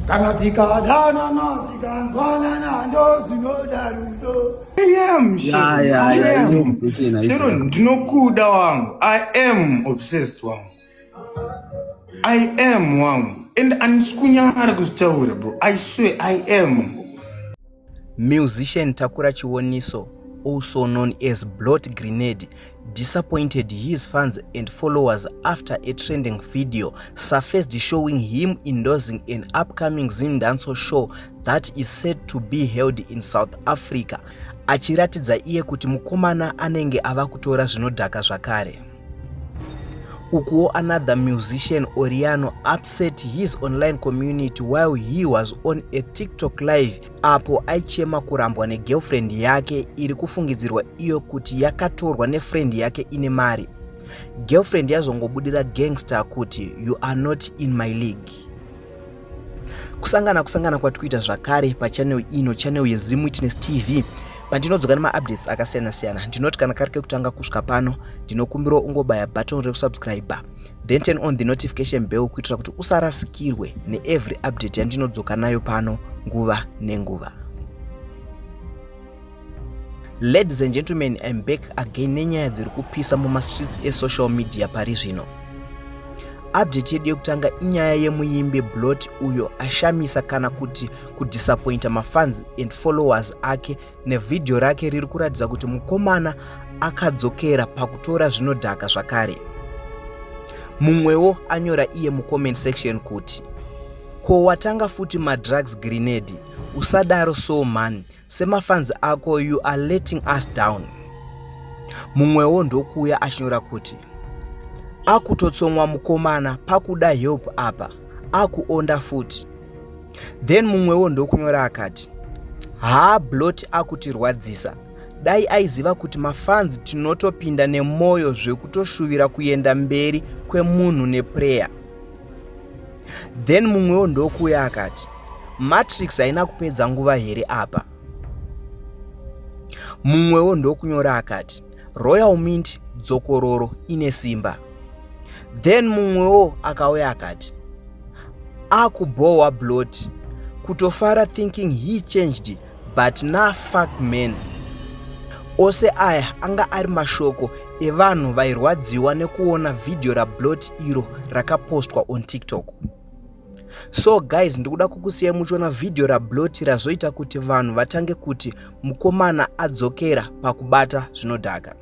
kana tikadanana tikanzwanana ndozvinoda rudo chero ndinokuda wangu i am obsessed wangu i am wangu and andisikunyara kuzvitaura bro i swear i am Musician Takura Chiwoniso, also known as Blot Grenade, disappointed his fans and followers after a trending video surfaced showing him endorsing an upcoming Zindanso show that is said to be held in South Africa, achiratidza iye kuti mukomana anenge ava kutora zvinodhaka zvakare. Ukuwo another musician Oriano upset his online community while he was on a TikTok live apo aichema kurambwa negirlfriend yake iri kufungidzirwa iyo kuti yakatorwa nefriend yake ine mari. Girlfriend yazongobudira gangster kuti you are not in my league. kusangana kusangana kwati kuita zvakare pachanel ino chanel yezim witness tv pandinodzoka nemaupdates akasiyana siyana ndinoti kana kari kekutanga kusvika pano ndinokumbira ungobaya button rekusubscribe then turn on the notification bell kuitira kuti usarasikirwe neevery update yandinodzoka nayo pano nguva nenguva Ladies and gentlemen, I'm back again nenyaya dziri kupisa mumastreets esocial media pari zvino. Update yedu yekutanga inyaya yemuimbi Blot uyo ashamisa kana kuti kudisappointa mafans and followers ake nevhidhiyo rake riri kuratidza kuti mukomana akadzokera pakutora zvinodhaka zvakare. Mumwewo anyora iye mucomment section kuti ko watanga futi madrugs grenade usadaro so mhani semafans ako you are letting us down mumwewo ndokuuya achinyora kuti akutotsomwa mukomana pakuda help apa akuonda futi then mumwewo ndokunyora akati haa blot akutirwadzisa dai aiziva kuti mafanzi tinotopinda nemwoyo zvekutoshuvira kuenda mberi kwemunhu neprayer then mumwewo ndokuuya akati matrix haina kupedza nguva here apa mumwewo ndokunyora akati royal mint dzokororo ine simba then mumwewo akauya akati akubhohwa blot kutofara thinking he changed but na fuck man ose aya anga ari mashoko evanhu vairwadziwa nekuona vhidhiyo rablot iro rakapostwa on tiktok so guys ndikuda kukusiyai muchiona vhidhiyo rablot razoita kuti vanhu vatange kuti mukomana adzokera pakubata zvinodhaka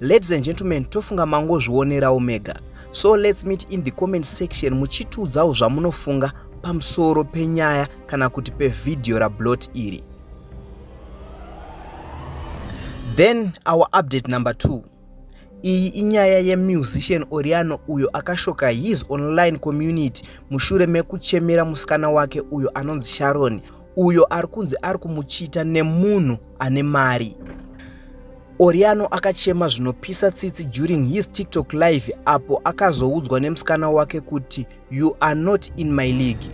Ladies and gentlemen, tofunga mangozvionerawo mega. So let's meet in the comment section muchitiudzawo zvamunofunga pamusoro penyaya kana kuti pevhidhiyo rablot iri. Then our update number 2. Iyi inyaya yemusician Oriano uyo akashoka his online community mushure mekuchemera musikana wake uyo anonzi Sharon uyo ari kunzi ari kumuchita nemunhu ane mari. Oriano akachema zvinopisa tsitsi during his TikTok live apo akazoudzwa nemusikana wake kuti you are not in my league.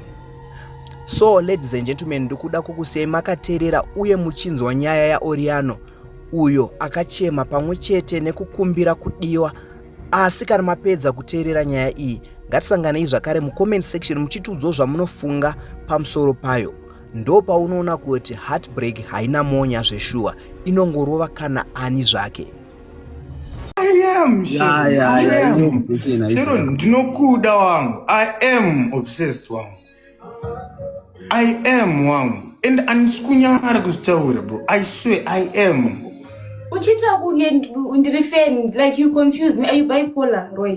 So ladies and gentlemen, ndikuda kukusiyai makaterera uye muchinzwa nyaya yaOriano uyo akachema pamwe chete nekukumbira kudiwa. Asi kana mapedza kuteerera nyaya iyi, ngatisanganei zvakare mucomment section muchitiudzawo zvamunofunga pamusoro payo. ndopaunoona kuti heartbreak haina monya zveshuwa inongorova kana ani zvake chero ndinokuda wangu i am obsessed wangu i am wangu and andisi kunyara kuzvitaura bro i swear i am uchitaura kunge ndiri fan like you confuse me are you bipolar roy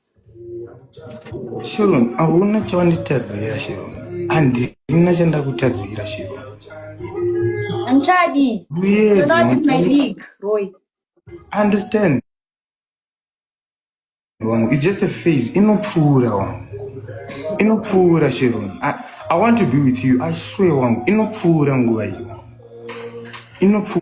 Sharon, hauna chawanditadzira Sharon. Handina chandakutadzira Sharon. Hamchadi. Yes, You're not in my league, Roy. Understand. Wangu, it's just a phase. Inopfuura wangu. Inopfuura Sharon. I, I want to be with you. I swear wangu. Inopfuura nguva iyo. Inopfuura.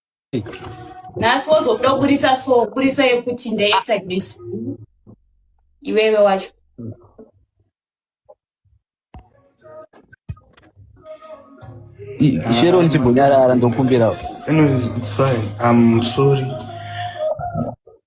nhasi wozobuda kuburitsa so buritsa yekuti ndaact against iwewe wacho shero ndichimbonyarara ndokumbirawo sorry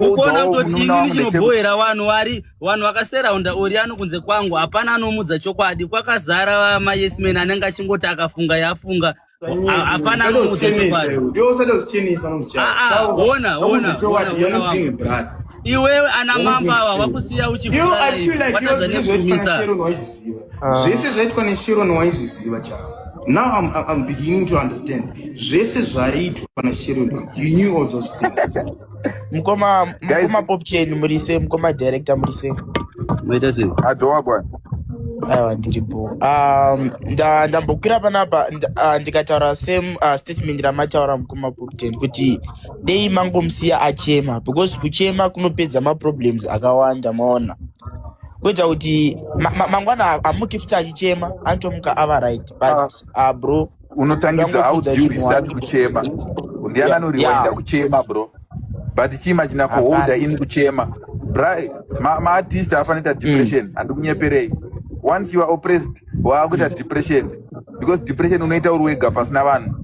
ukonaotiichinobohera vanhu wari vanhu vakaseraunda ori ano kunze kwangu hapana anomudza chokwadi kwakazara vamayesmen anenge achingoti akafunga yafunga hapana anomudza chokwadiona iwewe ana mambo ava wakusiya uchiatadza nezvimisa Ah. zvese zvaitwa nesheron waizviziva chavo now I'm, I'm beginning to understand zvese zvaitwa nasheron you knew all those things mukoma Guys. mukoma pop chain murise mukoma director murise Maita sei? Adhowa bwana. aiwa ndiripo um, nda- ndambokwira panapa nd- ah, ndikataura same ah, statement ramataura mukoma pop chain kuti dei mangomusiya achema because kuchema kunopedza maproblems akawanda maona kuita kuti mangwana amuki futi achichema anotomuka ava right but ah. ah, bro unotangidza how do you restart kuchema ndiani anoriwaida kuchema bro but chima china kuholda ini kuchema bri maartist ma afanoita mm. depression mm. andikunyeperei once you are oppressed waakuita mm. depression because depression unoita uri wega pasina vanhu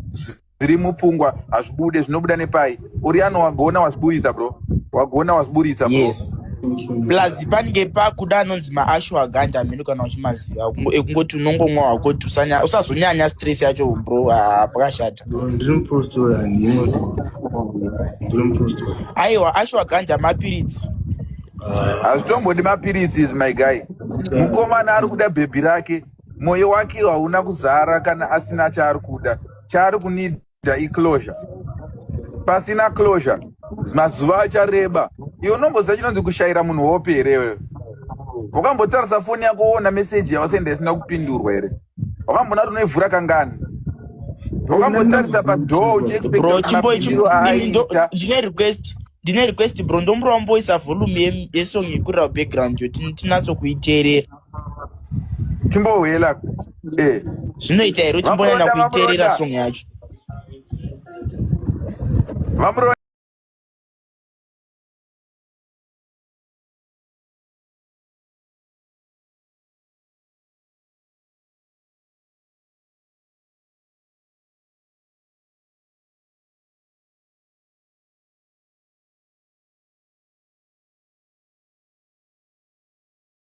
zviri mupfungwa hazvibude zvinobuda nepai uriano wagona wazviburitsa bro wagona wazviburitsa bro yes plus pange pakuda anonzi maashu agandi amene kana uchimaziva Kungo- ekungoti unongomwa wakoti usanya- usazonyanya stress yacho bro ah, pakashata ndiri mupostora ndimo ndiri mupostora aiwa ashu agandi amapiritsi hazvitombodi mapiritsi izvi my guy mukomana ari kuda bhebhi rake moyo wake hauna kuzara kana asina chaari kuda chaari kunida iclosure pasina closure mazuva achareba iwe unomboziva chinonzi kushayira munhu hope here iwewe wakambotarisa foni yako woona meseji yawasenda isina kupindurwa here wakambona kuti unoivhura kangani wakambotarisa padhoo uchiexpectndine request ndine request bro ndomuromboisa volume yesong yekurira background yo tinatsokuiteerera timbouye la eh. zvinoita here uchimbonyanya kuiterera song yacho vamuroya